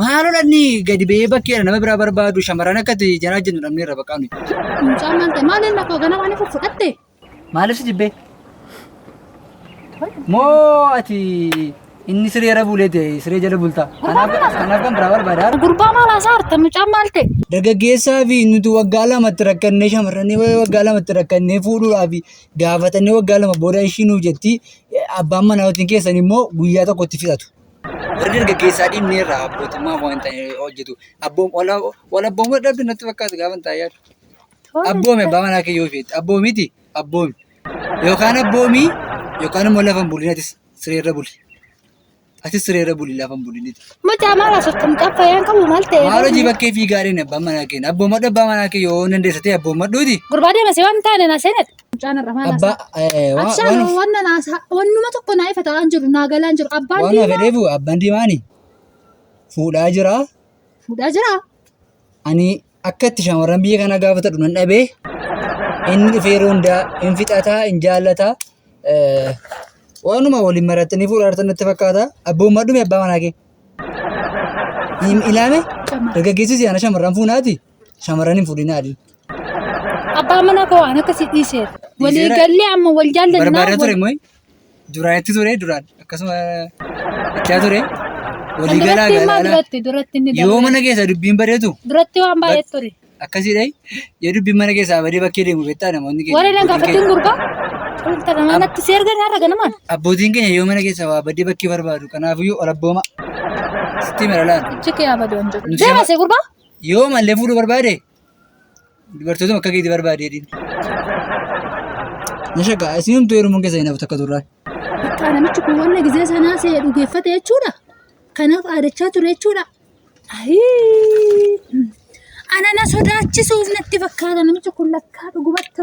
Maaloo dhanni gadi ba'ee bakkeedha nama biraa barbaadu shamarran akka itti jaraa jennu dhabnee irra baqaa nuyi. Mucaan maal ta'e maal inni akkoo ganama ani fudhatte. Maaliif si jibbee? Moo ati inni siree irra buulee ta'e siree jala bultaa? Kanaaf kanaaf kan biraa barbaadaa? Gurbaa maal haasaa harta mucaan maal ta'e. Dargaggeessaa fi nuti waggaa lamatti rakkannee shamarranii waggaa lamatti rakkannee fuudhuudhaa fi gaafatanii waggaa lama booda ishii nuuf jetti abbaan manaa yookiin keessan immoo guyyaa tokko itti fixatu. Warri dargaggeessaa dhiibnee irraa abbootummaa waan ta'e hojjetu. Abboom wal abboomuu dhabbi natti fakkaatu gaafa ta'e yaadu. Abboomi abbaa manaa kee yoo feete abboomiti abboomi yookaan abboomii yookaan immoo lafa hin buliinatis sireerra buli. Ati sireera buli lafa hin bulin iti. Mucaa maal asoftan mucaa fayyaan qabu maal ta'e? Maalo jii bakkee fiigaa dheen abbaan manaa keenya. Abboomadhu abbaa manaa kee yoo dandeessa ta'e abboomadhuuti. Gurbaa deema si waan taane na seenadha. Mucaan irra maal Abbaa haasaa? eh, waan Abshaan waan- wanna naasaa wannuma tokko naa ifa ta'aan jiru naa galaan jiru abbaan waan diimaa fedheefu abbaan diimaani fuudhaa jira. fuudhaa jira. Ani akka itti shamarran biyya kanaa gaafatadhu nan dhabee inni dhufee yeroo hundaa hin fixataa hin jaallataa eh, waanuma waliin marattanii fuudhaa jirtan natti fakkaata abbummaa dhume abbaa manaa kee hin ilaame dargaggeessi siyaana shamarran fuunaati shamarran hin fuudhinaa adii Abbaa mana koo waan akkasii dhiiseera. Walii Dhiiseera? gallee amma wal jaallannaa. barbaada ture wal- mooyi Duraan itti ture duraan akkasuma itti haa ture. Walii galaa Duratti immoo galaa. duratti duratti inni Yoo darbe. mana keessa dubbiin badeetu Duratti waan baay'ee ture. akkasiidha. Yoo dubbiin mana keessaa badee bakkee deemu beektaa namoonni keenya. Warri na abbootiin gaafatiin keenya- gurbaa. Wanta nama natti si ergan har'a ganamaan. Abbootiin keenya yoo mana keessaa waa badee bakkee barbaadu kanaafiyyuu ol abbooma. Sitti mala laata? Ijji kee haa badu hin jedhu. Nuti Deema shama- si gurbaa. Yoo mallee fuudhuu barbaade Dubartootuma akka keeti barbaadee dhiirri. Na shakka isin humtuu heerumuun keessa hin hafu takka turraa. Bakka namichi kun wanna gizee sanaa se'e dhugeeffate jechuudha. Kanaaf aadachaa ture jechuudha. Ayii! Ana na sodaachisuuf natti fakkaata namichi kun lakkaa dhugumatti.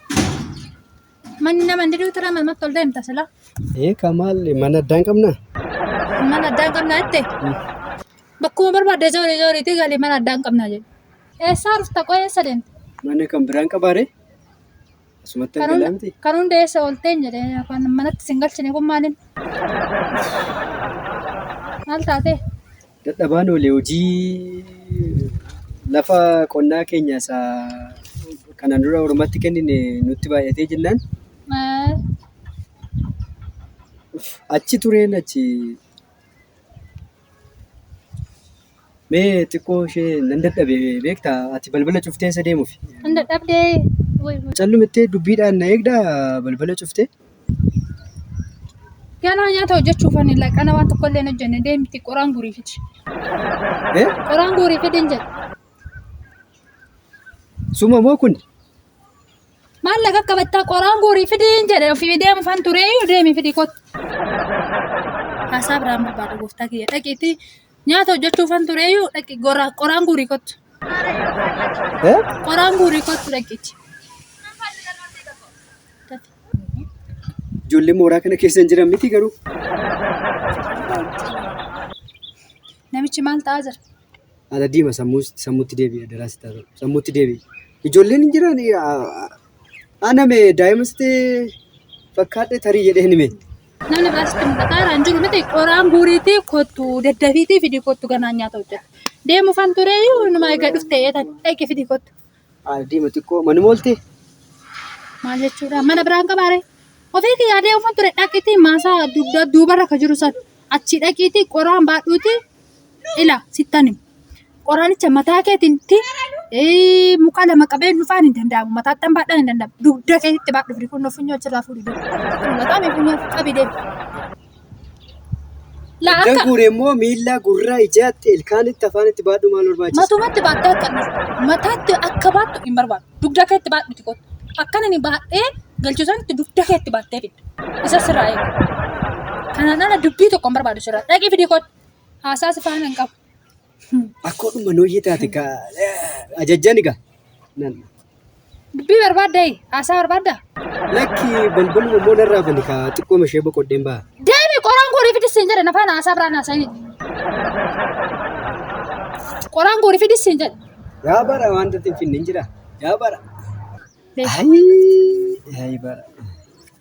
Manni nama hin diduu tura mamatti ol deemta sila. Ee ka maal mana addaa hin qabnaa? Mana addaa hin qabnaa jette. Bakkuma barbaadde joorii jooriitii galii mana addaa hin qabnaa jedhe. Eessaa rufta qo'ee eessa deemte? Mana kan biraan qabaare? Asumatti Kan hunda- argalamti? kan hunda eessa oolteen jedhe kan manatti sin galchine kun maaliin? Maal taatee? Dadhabaan oole hojii lafa qonnaa keenya isa kanaan dura ormatti kennine nutti baay'atee jennaan achi tureen achi mee xiqqoo ishee nan dadhabe beekta ati balbala cuftee isa deemuuf Hin dadhabdee. Callumittee dubbiidhaan na eegda balbala cuftee. Ganaa nyaata hojjechuuf ani laqana waan tokko illee hin hojjenne deemti qoraan guurii fidi. Eh? Qoraan guurii fidi hin jedhe. Suma moo kun? Maallaqa akka battaa qoraan guurii fidi hin jedhe ofii deemu fan turee deemi fidi kottu. Haasaa biraan barbaada gooftaa kiyya dhaqiitii Nyaata hojjechuufan tureeyyuu dhaqi goraa qoraan guurii kottu. Eh? Qoraan guurii kottu dhaqichi. Ijoollee mooraa kana keessa hin jiran miti garuu. Namichi maal ta'aa jira? Haala diima sammuu sammuutti deebi'a daraasi taatu. Sammuutti deebi'a. Ijoolleen hin jiran ana mee daa'ima sitti fakkaadhe tarii jedhee hime. Namni biraas itti mul'ata. Iraan jiru miti qoraan guuriitii kottu daddafiitii fidii kottu ganaan nyaata hojjeta. Deemu fan turee iyyuu numa egaa dhufte eetan dhaqi fidii kottu. Ardiima xiqqoo manuma ooltee? Maal jechuudha? Mana biraan qabaare? Ofii kiyyaa deemu fan ture dhaqiitii maasaa dugda duubarra ka jiru san achi dhaqiitii qoraan baadhuutii ila sittan hima qoraanicha mataa keetitti ee, muka lama qabeen dhufaan hin danda'amu mataattan baadhaan hin danda'amu dugda keetitti baadhu firi kun funyoo achirraa fuudhi dugda mataame funyoo qabi deemu laa Iddan akka guure immoo miila, gurra, ijaatti, ilkaanitti, afaanitti baadhu maal barbaachisa? matumatti baadhaa kan mataatti akka baattu hin barbaadu dugda keetti baadhuti kottu akkan inni baadhee galchu sanitti dugda keetti baattee fidda isa sirraa eega kanaan ala dubbii tokko hin barbaadu sirraa dhaqii fidii kottu Haasaa si faana hin qabu. Akkoodhuma nooyyee taate ka ajajjan egaa. Nan Dubbii barbaadda hee? Haasaa barbaadda? lakki balbaluma immoo narraa bani ka xiqqooma ishee boqodheen ba'a. Deemi qoraan goorii fidis siin jedhe na faana haasaa biraan haasa'ini. Qoraan goorii fidis siin jedhe. Yaa bara wanta ittiin finne hin jira. Yaa bara. Deemi. Ayi bara.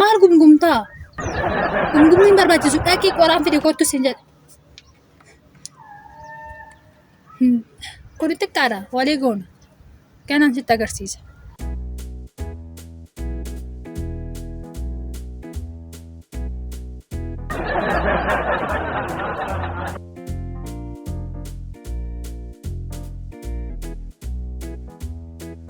Maal gumgumtaa? Gumgumni hin barbaachisu. Dhaqii qoraan fide kottu sin jedha. Hmm. Kuni xiqqaadha. Walii goona. Ganaan sitti agarsiisa.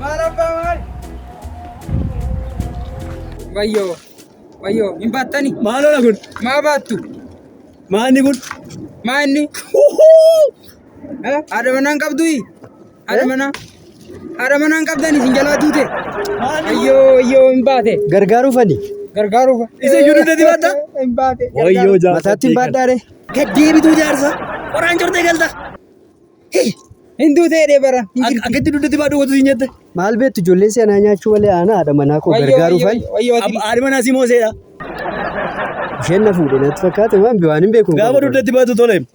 Maal abbaa maal? Wayyoo wayyoo hin baattani? Maaloo na kun? Maa baattu? Maanni kun? Maanni? Haadha manaan qabdui? Haadha manaa. Haadha manaan qabdan isin jalaa duute. Ayyoo ayyoo hin baate. Gargaaruu fani. Gargaaruuf. Isa iyyuu dugda dibatta. Hin baate. Wayyoo jaarsa. Mataatti hin baadhaare. Gad deebituu jaarsa. Qoraan cortee galta. Hin duutee dee bara. Hin jirti. Akkatti dugda dibaa dhugatu siin jette. Maal beektu ijoolleen si anaa nyaachuu malee aanaa haadha manaa koo Wayyoo, gargaaruu wayyoo, fani. wayyoo ati. Haadha manaa si mooseedha. Isheen na fuudhe natti fakkaate waan waan hin beeku. Gaafa dugda dibaatu tole.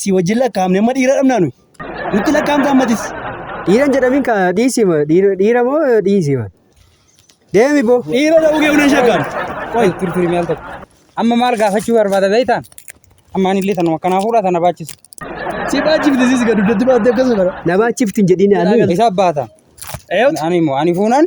Si wajjin lakkaa'amne amma dhiira dhabnaa nuyi. Nutti lakkaa'amta ammatis. Dhiiran jedhamin ka dhiisima dhiira moo dhiisima. Deemi boo. Dhiira ta'uu kee hunan shakkaan. Qoy turi turi mi'al tokko. Amma maal gaafachuu barbaada beektaan? Amma ani illee tanuma kanaa fuudhaa tana baachisu. Si baachifti sis gad duddatti baattee akkasuma bara. Na baachifti hin jedhin ani. Isa baata. Eeyyoot. Ani immoo ani fuunan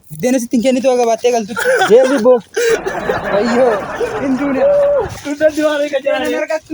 Biddeena sitti hin kennitu haga baattee galtutti. Deemi boo. Wayyoo. Hin duune. Duudatti waan eega Biddeena hin jiraanii. argattu.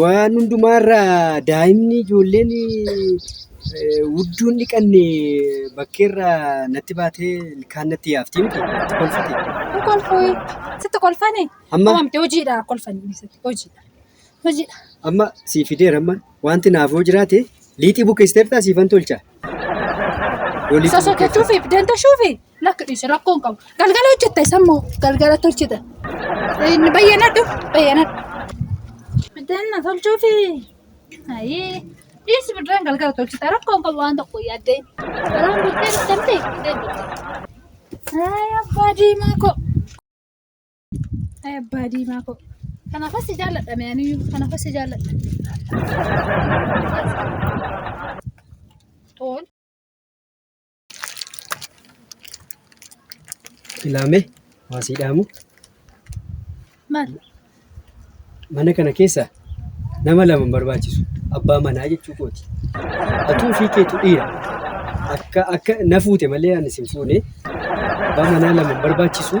Waan hundumaarra daa'imni ijoolleen wudduun dhiqanne bakkeerra natti baatee ilkaan natti yaafti miti natti kolfiti. Hin kolfooyi. Sitti kolfani. Amma? Qabamte hojiidha kolfani dhiisatti hojiidha. Hojiidha. Amma sii fideera amma wanti naafoo jiraate liixii bukeessiteertaa siifan tolcha. Isa sodachuufi dantashuufi lakki dhiise rakkoon qabu. Galgala hojjetta isa immoo galgala tolchita. Inni bayyanadhu bayyanadhu. Danna tolchuufi. Ayii dhiisi biddeen galgala tolchita rakkoon qabu waan tokko yaaddee. Garaan biddeen bittamte biddeen bittamte. Ay abbaa diimaa koo. Ay abbaa diimaa koo. Kanaaf asii jaalladha mee ani kanaaf asii jaalladha. Tool. Ilaame waa sii dhaamu. Maal? Mana kana keessa nama lama hin barbaachisu. Abbaa manaa jechuu kooti. Atuu ofii keetu dhiira. Akka akka na fuute malee ani sin fuune. Abbaa manaa lama hin barbaachisu.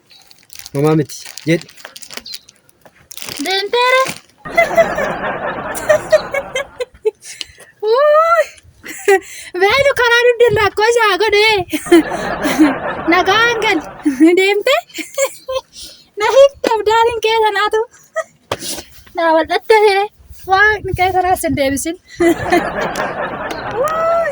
Homaa miti jedhi. Deemteera. Wuuy. Beenu karaa dugda lakkoo isaa godhee. Nagaan gal. Deemte. Na hiikte abdaaliin kee sanaatu. Na wal'atte hiree. Waaqni kee sanaas hin deebisin. Wuuy.